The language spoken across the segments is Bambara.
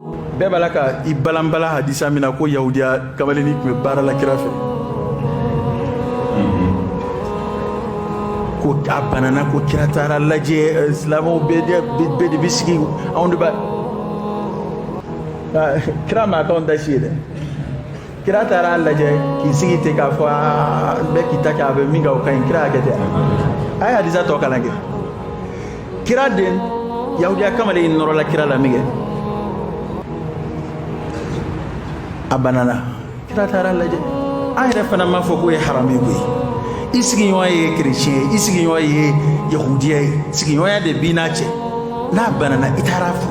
bɛɛ b'a la ka i balanbala hadisa min na ko yahudiya kamalenni tun bɛ baara la kira fɛ ko a banana ko kira taara a lajɛ eh, silamɛw bɛɛ de bɛ sigi anw de b'a kira ma k'anw ta si ye dɛ kira taara a lajɛ k'i sigi ten k'a fɔ bɛɛ k'i ta kɛ a bɛ min kɛ o ka ɲi kira y'a kɛ ten a ye hadisa tɔ kalan kɛ kira den yahudiya kamalen in nɔrɔla kira la min kɛ a banana kira taara a lajɛ an yɛrɛ fana m'a fɔ k'o ye haramu ye koyi i sigiɲɔgɔn ye kereciyɛn ye i sigiɲɔgɔn ye yahudiya ye sigiɲɔgɔnya de b'i n'a cɛ n'a banana i taara a fo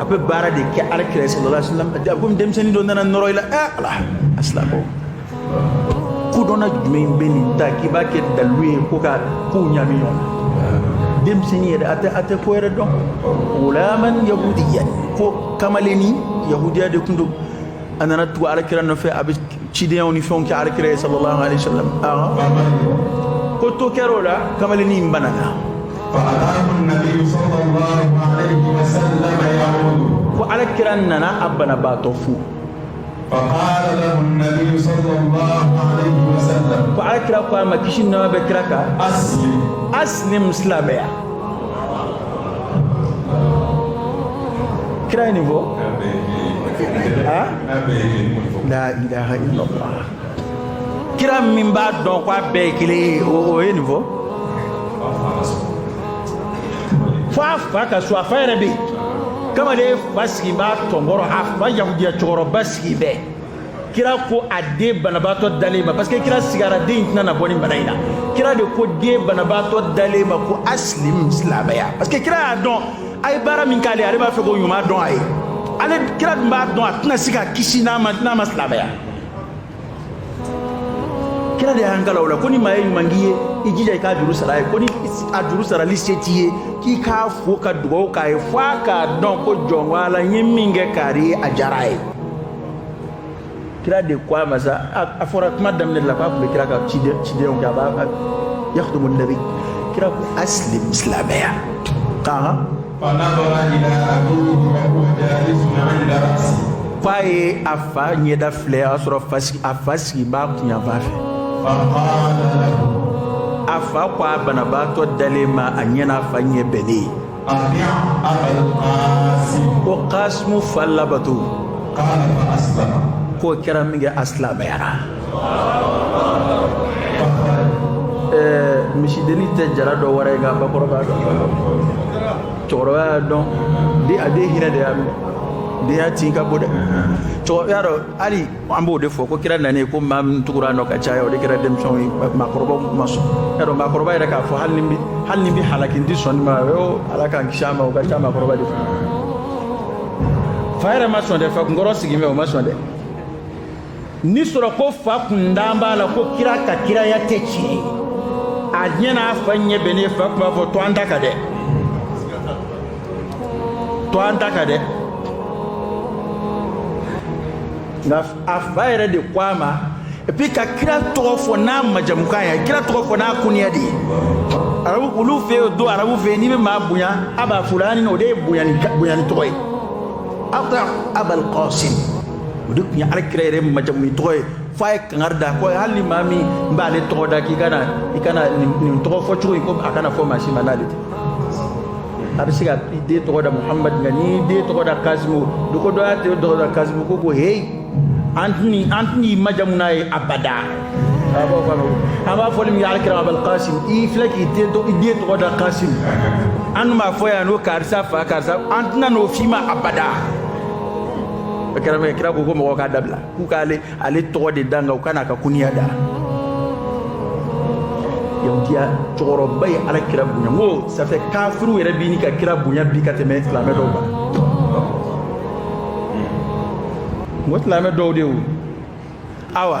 a bɛ baara de kɛ ala kira ye sallallahu alaihi wasallam a ko denmisɛnnin dɔ nana nɔrɔ i la ɛ ala a silamɛ kodɔnna jumɛn bɛ nin ta k'i b'a kɛ dalu ye ko ka kow ɲami ɲɔgɔn na denmisɛnnin yɛrɛ a tɛ a tɛ ko yɛrɛ dɔn gulaman yahudiya ko kamalenni yahudiya de tun don a nana tugu ala kira nɔfɛ a bɛ cidenyaw ni fɛnw kɛ ala kira ye sallallahu alaihi wasallam ko to kɛra o la kamalenni in banana ko alakira nana a banabaatɔ fo ko alakira ko a ma kisi ni nɛɛma bɛ kira kan aslim silamɛya kira ye nin fɔ la ilaha illallah kira min b'a dɔn ko a bɛɛ ye kelen ye o ye nin fɔ fo a fa ka so a fa yɛrɛ bɛ yen kamalen fa sigi b'a tɔnkɔrɔ a fa yahudiya cɛkɔrɔba sigi bɛ yen kira ko a den banabaatɔ dalen ma parce que kira sigara den in tɛna na bɔ nin bana in na kira de ko den banabaatɔ dalen ma ko aslim silamɛya parce que kira y'a dɔn a ye baara min k'ale ale b'a fɛ k'o ɲuman dɔn a ye ale kira dun b'a dɔn a tɛna se ka kisi n'a ma silamɛya kira de y'an kalan o la ko ni maa ye ɲuman k'i ye i jija i k'a juru sara a ye ko ni a juru sarali se t'i ye k'i k'a fo ka dugawu k'a ye f'a k'a dɔn ko jɔnko ala n ye min kɛ kari ye a diyara a ye kira de ko a ma sa a fɔra kuma daminɛ la k'a tun bɛ kira ka cidenw kɛ a b'a yakhdumu nabi kira ko aslim silamɛya kan k'a ye a fa ɲɛda filɛ o y'a sɔrɔ a fa sigi b'a kunyanfan fɛ fakala lahu a fa ko a banabaatɔ dalen ma a ɲɛ n'a fa ɲɛ bɛnnen ati abal kasimu ko kasimu fa labato kala fa aslama k'o kɛra min kɛ a silamɛyara misidennin tɛ jara dɔn wɛrɛ nka bakɔrɔ b'a dɔn cɛkɔrɔba y'a dɔn de a den hinɛ de y'a minɛ den y'a tin ka bon dɛ cɛkɔrɔba y'a dɔn hali an b'o de fɔ ko kira nanen ko maa min tugura nɔ ka caya o de kɛra denmisɛnw ye maakɔrɔbaw ma sɔn y'a dɔn maakɔrɔba yɛrɛ k'a fɔ hali ni n bi hali ni n bi halaki n ti sɔn nin ma o ala k'an kisi a ma o ka ca maakɔrɔba de fɛ fa yɛrɛ ma sɔn dɛ fa kunkɔrɔ sigin bɛ o ma sɔn dɛ ni sɔrɔ ko fa kun dan b'a la ko kira ka kiraya tɛ tiɲɛ ye a ɲɛ n'a fa ɲɛ bɛnnen fa tun b'a fɔ to an ta kan dɛ to an ta kan dɛ nka a fa yɛrɛ de ko a ma et puis ka kira tɔgɔ fɔ n'a majamukan ye kira tɔgɔ fɔ n'a kuniya de ye arabu olu fɛ yen don arabu fɛ yen n'i bɛ maa bonya aba fulani o de ye bonyani bonyani tɔgɔ ye ati abal kasim o de tun ye alakira yɛrɛ majamuni tɔgɔ ye fo a ye kangari da ko hali ni maa min b'ale tɔgɔ da k'i kana i kana nin tɔgɔ fɔ cogo in ko a kana fɔ maa si ma n'ale tɛ a bɛ se ka i den tɔgɔ da muhamadu nka n'i y'i den tɔgɔ da kasimu do ko dɔ y'a den tɔgɔ da kasimu ko ko heyi an tɛn'i an tɛn'i majamu n'a ye abada a b'a fɔ an b'a fɔ ni min ye alakira abal kasim i filɛ k'i den tɔgɔ i den tɔgɔ da kasim an dun b'a fɔ yan n'o karisa fa karisa an tɛna n'o f'i ma abada kira min kira ko ko mɔgɔw k'a dabila k'u k'ale ale tɔgɔ de da nka u kana a ka kuniya da yahudiya cɛkɔrɔba ye ala kira bonya n ko ça fait kafiriw yɛrɛ bi ɲini ka kira bonya bi ka tɛmɛ silamɛ dɔw kan n ko silamɛ dɔw de wo awa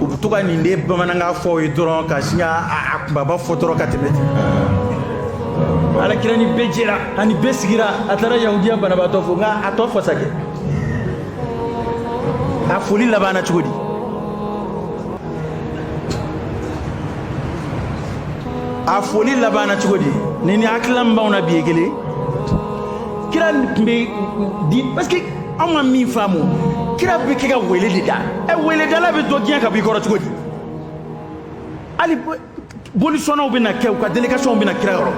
u bɛ to ka nin de bamanankan fɔ aw ye dɔrɔn ka sin ka a kunbaba fɔ dɔrɔn ka tɛmɛ ten alakira ni bɛɛ jɛra ani bɛɛ sigira a taara yahudiya banabaatɔ fo nka a tɔ fɔ sa kɛ a foli labanna cogo di a foli labanna cogo di ni nin hakilila in b'anw na bi ye kelen kira tun bɛ di parce que anw ma min faamu kira bɛ kɛ ka wele de da ɛ weledala bɛ dɔ gɛn ka b'i kɔrɔ cogo di hali bolisɔnnaw bɛ na kɛ u ka délégationw bɛ na kira yɔrɔ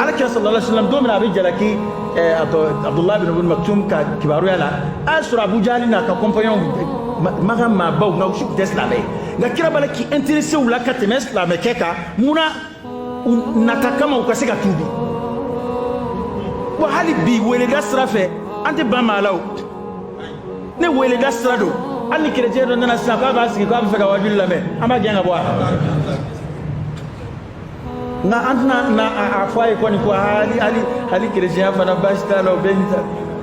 ala kira sallallahu alaihi wasallam don min na a bɛ jalaki a tɔ abudulayi bin ibn maktum ka kibaruya la a y'a sɔrɔ abu jahali n'a ka compagnonw makan maabaw nka u si tun tɛ silamɛ ye nka kira b'a la k'i intéresser u la ka tɛmɛ silamɛkɛ kan mun na nata kama u ka se ka tuubi wa hali bi weleda sira fɛ an tɛ ban maa la o ni weleda sira don hali ni kerecɛn dɔ nana sisan k'a b'a sigi k'a b'a fɛ ka wajuli lamɛn an b'a gɛn ka bɔ a nka an tɛna a fɔ a ye kɔni ko hali hali hali kerecɛnya fana baasi t'a la o bɛɛ n'i ta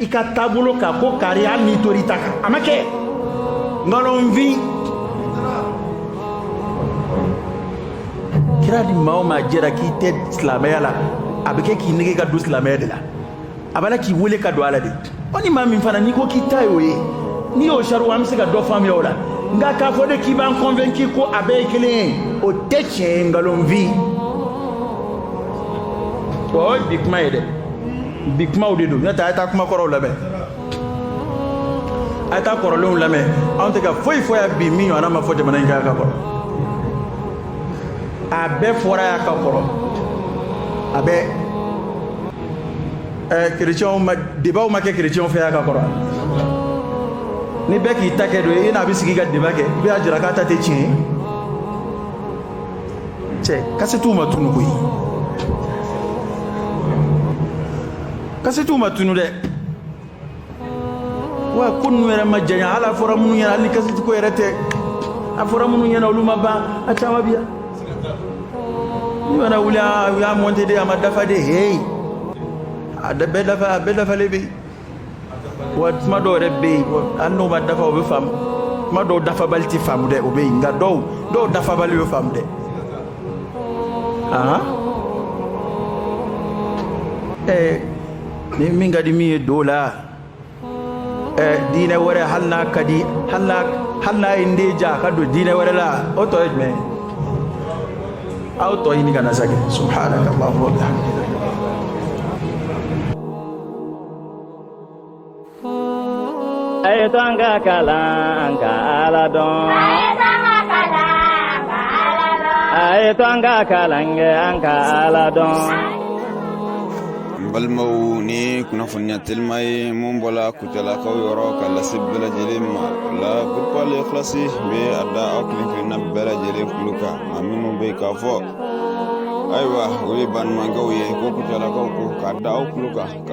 i ka taabolo kan ko kari hali n'i tor'i ta kan a ma kɛ nkalonfin kira ni maa o maa jɛra k'i tɛ silamɛya la a bɛ kɛ k'i nege ka don silamɛya de la a b'a la k'i wele ka don a la de o ni maa min fana n'i ko k'i ta y'o ye n'i y'o sarihu an bɛ se ka dɔ faamuya o la nka k'a fɔ de k'i b'an kɔnfɛnki ko a bɛɛ ye kelen ye o tɛ tiɲɛ ye nkalonfin wa o ye bi kuma ye dɛ bi kumaw de don n'o tɛ a ye taa kuma kɔrɔw lamɛn a ye taa kɔrɔlenw lamɛn anw tɛ ka foyi fɔ yan bi min ɲɔgɔnna ma fɔ jamana in kan ka kɔrɔ a bɛɛ fɔra yan ka kɔrɔ a bɛɛ ɛɛ kerecɛnw ma debaw ma kɛ kerecɛnw fɛ yan ka kɔrɔ ni bɛɛ k'i ta kɛ don i n'a bɛ sigi ka deba kɛ i bɛ a jira k'a ta tɛ tiɲɛ ye cɛ kasetiw ma tunu koyi kasetiw ma tunu dɛ wa ko ninnu yɛrɛ ma janya hali a fɔra minnu ɲɛna hali ni kaseti ko yɛrɛ tɛ a fɔra minnu ɲɛna olu ma ban a caman bi yan n'u mana wuli u y'a monte de a ma dafa de heyi a bɛɛ dafa a bɛɛ dafalen bɛ yen wa kuma dɔw yɛrɛ bɛ yen hali n'o ma dafa o bɛ faamu kuma dɔw dafabali tɛ faamu dɛ o bɛ yen nka dɔw dɔw dafabali bɛ faamu dɛ ahan ɛɛ ni min ka di min ye don a la ɛɛ diinɛ wɛrɛ hali n'a ka di hali n'a hali n'a ye n den diya a ka don diinɛ wɛrɛ la o tɔ ye jumɛn ye aw tɔ ɲini ka na sa kɛ subhanaka allahumma wa bihamdika a y'a to an ka kalan ka ala dɔn a y'a to an ka kalan kɛ an ka ala dɔn n balimaw nin kunnafoniya telima ye min bɔla kutalakaw yɔrɔ ka lase bɛɛ lajɛlen ma o la groupe al ikhlasi bɛ a da aw kelen kelenna bɛɛ lajɛlen kulo kan a minnu bɛ k'a fɔ ayiwa o ye banumankɛw ye ko kutalakaw ko k'a da aw kulo kan